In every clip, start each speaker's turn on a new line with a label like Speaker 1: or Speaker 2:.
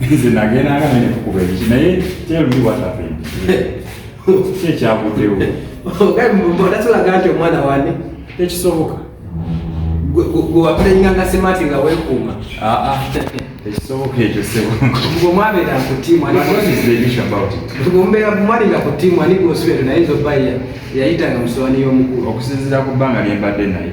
Speaker 1: nze nagenda nga nene kukuba ebiki naye tell me what happened ki ekyaguddewo
Speaker 2: odatulaga nti omwana wane tekisoboka gwewapulenganga semati nga wekuuma ah, ah.
Speaker 1: ekisoboka ekyo sebomwabeera ku
Speaker 2: tiimu mwalinga ku tiimu ani gwosubire naye nzoba yayitanga musowani y'omukulu okusinzira ku bbanga
Speaker 1: lyembadde naye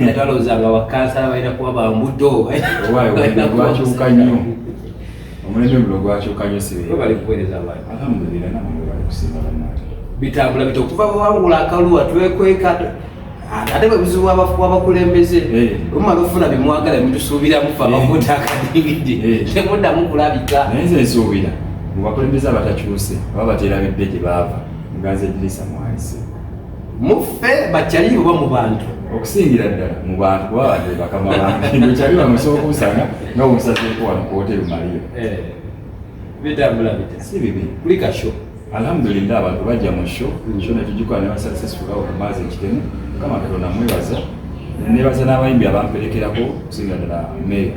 Speaker 2: era twalowooza nga bakansala balina kuba bambuto
Speaker 1: gwakyuka nnyo omulembe guno gwakyuka nnyo sibali kuweereza abantu
Speaker 2: alhamdulillah namwe bali
Speaker 1: kusinga bannange bitambula bita okuva
Speaker 2: bwewangula akaluwa twekweka ate bwe buzibu wabakulembeze eh. omumala ofuna byemwagala mutusuubiramu fe abakuta eh. akadingidi eh. temuddamu kulabika naye nze nsuubira
Speaker 1: mubakulembeze abatakyuse oba bateera bidde gye baava muganze dirisa mwalise muffe
Speaker 2: bakyali oba mu bantu okusingira ddala
Speaker 1: mu bantu kuba bade bakama bantu kino kyali bamusooka osanga nga omusazeeko wano ku hoteri maliyo eh,
Speaker 2: bitambula bite si bibi kuli kasho alhamdulillah abantu
Speaker 1: bajja mu sho hmm. sho netugikola ne basuccessful awo kumaazi ekitemu mukama katonda mwebaza nebaza n'abayimbi abamperekerako okusingira ddala meeya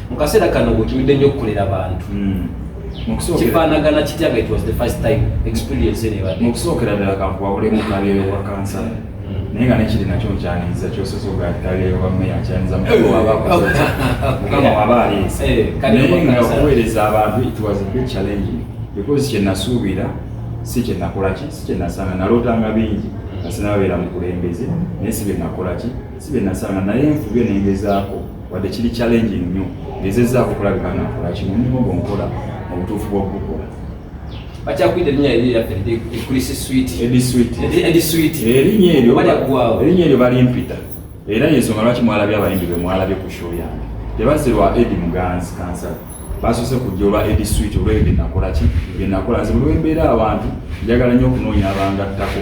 Speaker 2: mu kaseera kano wekibidde nnyo okukolera abantu hmm. kifaanagana kitya nga it was the first time experience enebadde mu kusookera ddala kankuwabulemu
Speaker 1: kalyeyo wa kansa hmm. naye nga nekiri nakyo nkyaniriza kyosoza ogakalyeyo wa meya nkyaniriza mukama waba aleese eh, naye nga okuweereza abantu it was a big challenge because kyenasuubira si kyenakolaki si kyenasanga nalootanga bingi nga sinababeera mukulembeze naye si byenakolaki si byenasanga naye nfubye nengezaako wadde kiri challenge nnyo ngezezaako okulabika nga nkola kino omulimu gwo nkola mu butuufu bw'okugukola bakyakwita
Speaker 2: erinnya eri lyaffe ekulisi switi edi switi edi switi erinnya
Speaker 1: eryo balyaggwawo erinnya eryo balimpita era yensonga lwaki mwalabye abayimbi be mwalabye ku show yange tebazze lwa edi muganzi kansala basoose kujja olwa edi switi olweyo byenakola ki byenakola nze buli wembeera abantu njagala nnyo okunoonya abangattako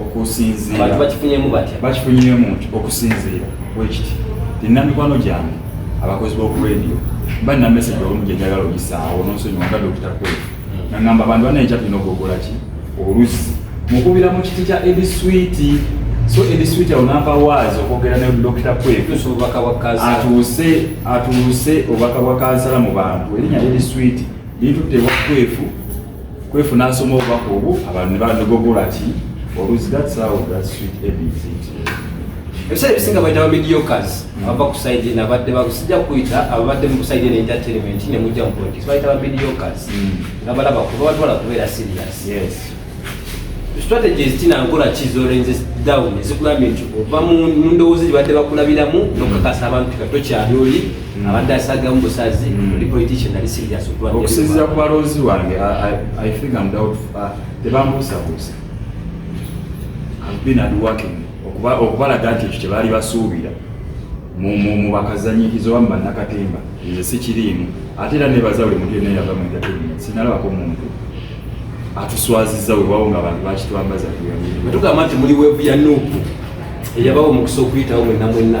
Speaker 1: okusinziira bakifunyemu batya
Speaker 2: bakifunyemu nti
Speaker 1: okusinziira bwekiti nina mikwano gyange abakozi b'oku radio mba nina message olumu gye njagala oyisaawo nonsonyiwa nga dokita kwefu nga ngamba bantu bana ekya tulina okugogola ki oluzi mukubira mu kiti kya edi switi so edi switi awo nava waazi okwogera ne dokita kwefu atuuse atuuse obubaka bwa kansala mu bantu erinnya edi switi litutte ewa kwefu kwefu n'asoma obubaka obwo abantu ne bandogogola ki oluzzi that's how that sweet abc
Speaker 2: ebiseera ebisinga bayita bamidiokas abava ku side eno abadde basijja kuyita ababadde mu side eno entertainment ne mujja mu politics bayita bamidiokas hmm. nga balaba kuba batwala kubeera serious yes strategies tina nkola kizolenze down ezikugambye nti ova mu ndowooza gye badde bakulabiramu nokakasa abantu katokyali oli abadde asagamu busazi mm. oli politician ali serious okuba okusinzira ku balonzi
Speaker 1: wange i think i'm doubt uh, tebambuusabuusa i've been at working okubalaga nti ekyo kyebaali basuubira mu bakazanyikiza oba mubannakatemba nze sikiriimu ate era nebaza buli muntu yona yava mu entertainment sinalabako muntu atuswaziza webawo nga abantu bakitwambaza tugamba nti
Speaker 2: muli wevu ya nuupu eyabawo omukisa okuyitawo mwenna mwenna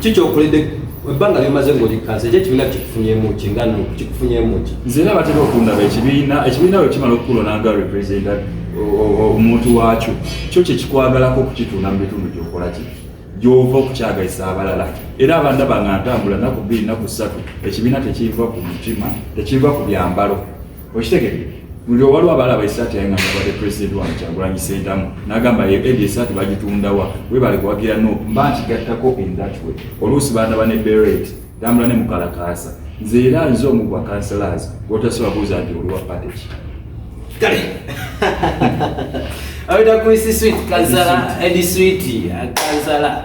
Speaker 1: kikyokoledde
Speaker 2: ebbanga lyomaze ngaoli kansa ekyo ekibiina kikufunyemu ki nga kikufunyemu ki nze na batera okundaba
Speaker 1: ekibiina ekibiina bwe kimala okukulona nga representa omuntu waakyo kyo kyekikwagalako okukituuna mu bitundu gyokola ki gyova okukyagazisa abalala era abanda banga ntambula naku bbiri naku ssatu ekibiina tekiva ku mutima tekiva ku byambalo okitegere buli owaliwo abalaba esaati yaye ngabade president wa kyagulanyi sentamu nagamba ye edi esaati bagitundawa webale kuwagira no mba nkigattako in that way oluusi baana bane beret tambula ne mukalakaasa nze era nze omu gwa kanselas gwotasobola buuza nti oliwa pateki kale
Speaker 2: aweta kuisi swit kansala edi switi kansala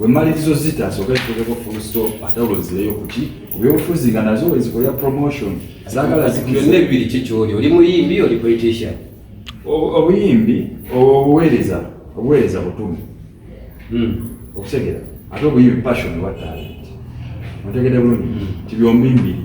Speaker 1: Wemalirizo zita asooke zituleko full stop atawulo zireyo kuki ku byobufuzi nga nazo ezikolera promotion zaagala zibyonna ebibiri
Speaker 2: kikyoli oli muyimbi oli politician obuyimbi
Speaker 1: obuweereza obuweereza butume hmm. okutegera ate obuyimbi passion wa talent otegede bulungi hmm. ti byombi mbiri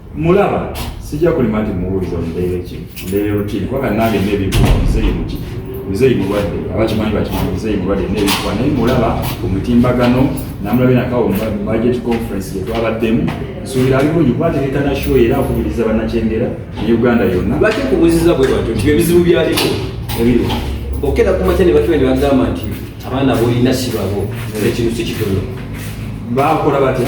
Speaker 2: mulaba
Speaker 1: sijja kulima nti muwuliza mbeera ki mbeera rutini kubanga nange nebibuwa muzeeyi muki muzeeyi mulwadde abakimanyi bakimanyi muzeeyi mulwadde nebibuwa naye mulaba ku mutimbagano namulabye nakawo budget conference gyetwabaddemu nsuubira ali bulungi kubategeka na show era akubiriza bannakyengera ne uganda yonna lwaki kubuziza bwe
Speaker 2: batyo nti ebizibu byaliko ebiri
Speaker 1: okera ku
Speaker 2: makya ne bakiwa ne bagamba nti abaana bolina sibabo ekintu si kitono baakola
Speaker 1: batya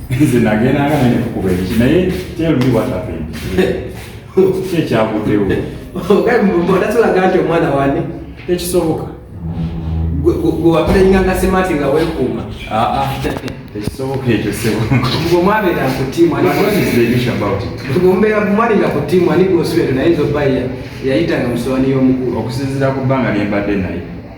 Speaker 1: nze nagenda nga nene kukuba ebiki naye tell me what happened ki ekyaguddewo
Speaker 2: odatulaga nti omwana wani tekisoboka
Speaker 1: gwewapulayinga
Speaker 2: nga semati nga wekuuma ah, ah.
Speaker 1: tekisoboka ekyo sebomwabeera ku
Speaker 2: tiimu omubeera mumwali nga ku tiimu ani gwosubire naye nzoba yayitanga musowani y'omukulu okusinzira ku bbanga
Speaker 1: lyembadde naye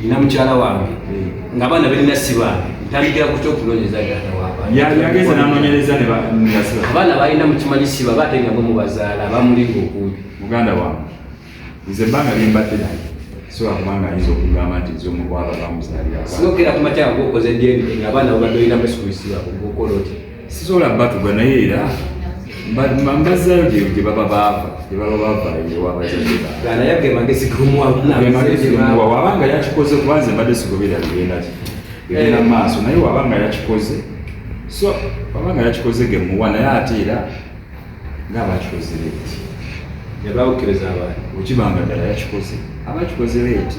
Speaker 2: nina mukyala wange nga abaana berina sibange ntandikira ku kyokunonyeza yageze nanonyereza
Speaker 1: abaana
Speaker 2: balina mukimanyi siba
Speaker 1: bate
Speaker 2: nga bomubazaala bamulinga okumpi muganda wange nze
Speaker 1: banga limbadde naye sobola kubanga ayinza okugamba nti nze omukwaba bamuzalira sinokera kumatya nga
Speaker 2: okoze dna nga abaana babadde olina mesikuisiba okola otya sisobola batuga
Speaker 1: naye era mbazzayo gye baba baava gye baba bavayo ewabazadewabanga
Speaker 2: mm. yakikoze
Speaker 1: kuba nze mbadde sigobera bigenda ki bigenda eh. maaso naye wabanga yakikoze so wabanga yakikoze gemuwa naye ate era ngaabakikoze leeti yabawukiriza
Speaker 2: abantu okibanga ddala
Speaker 1: yakikoze abakikoze leeti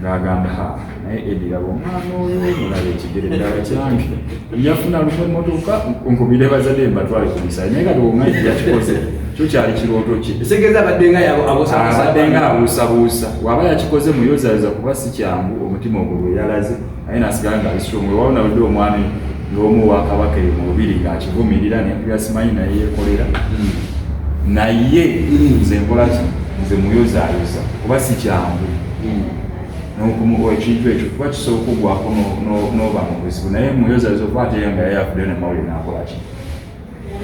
Speaker 1: ng'agamba ha naye ediraba omwana oyo mulaba ekigere ddala kyange yafuna lumu emotoka nkubire bazadde mbatwale ku misaayi naye kati omwana yakikoze kyo kyali kirooto ki esegeeza abaddenga
Speaker 2: abaddenga abuusabuusa
Speaker 1: waba yakikoze muyozayoza kuba si kyangu omutima ogulwe yalaze naye nasigala nga bisiromu ewawo nawulidde omwami ng'omu wa kabaka eyo mu lubiri ng'akivumirira nenkubira simanyi naye yekolera hmm. naye hmm. nze nkola ki nze muyozayoza kuba si kyangu hmm. nokumuwa ekintu ekyo kuba kisobola okugwako n'oba mu buzibu naye muyozayoza okuba ate yanga yayafudde namawulire nakola ki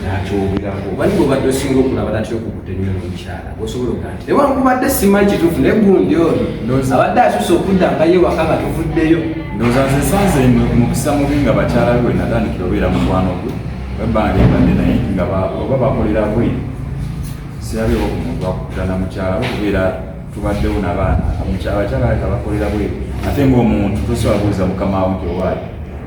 Speaker 1: nakyogerako bani bwobadde
Speaker 2: osinga okulaba natya okukuta ennyo nomukyala osobola okuga nti newankubadde simanyi kituufu naye gundi ono abadde asusa okudda nga ye waka nga tuvuddeyo ndowooza nze
Speaker 1: sanze mukisa mubi nga bakyala be wenatandikira obeera mukwano gwe webbanga lyembadde naye nga oba bakolera bwe sirabewo ku muntu akukuta na mukyala we kubeera tubaddewo nabaana abakyala beka bakolera bwe ate ngaomuntu tosobola kubuuza mukama wo nti owaayo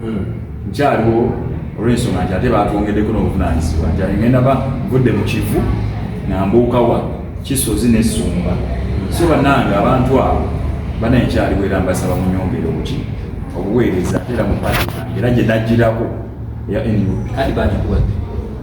Speaker 1: hmm. nkyaliwo olwensonga nti ate batwongeddeko n'obuvunaanyizibwa nti ngenda ba vudde mu kivu nambuukawa kisozi nesumba so bannange abantu abo bana enkyaliwo era mbasaba munyongere obuki obuweereza era mu pati era gye dajjirako eya nup kati bagikuwadde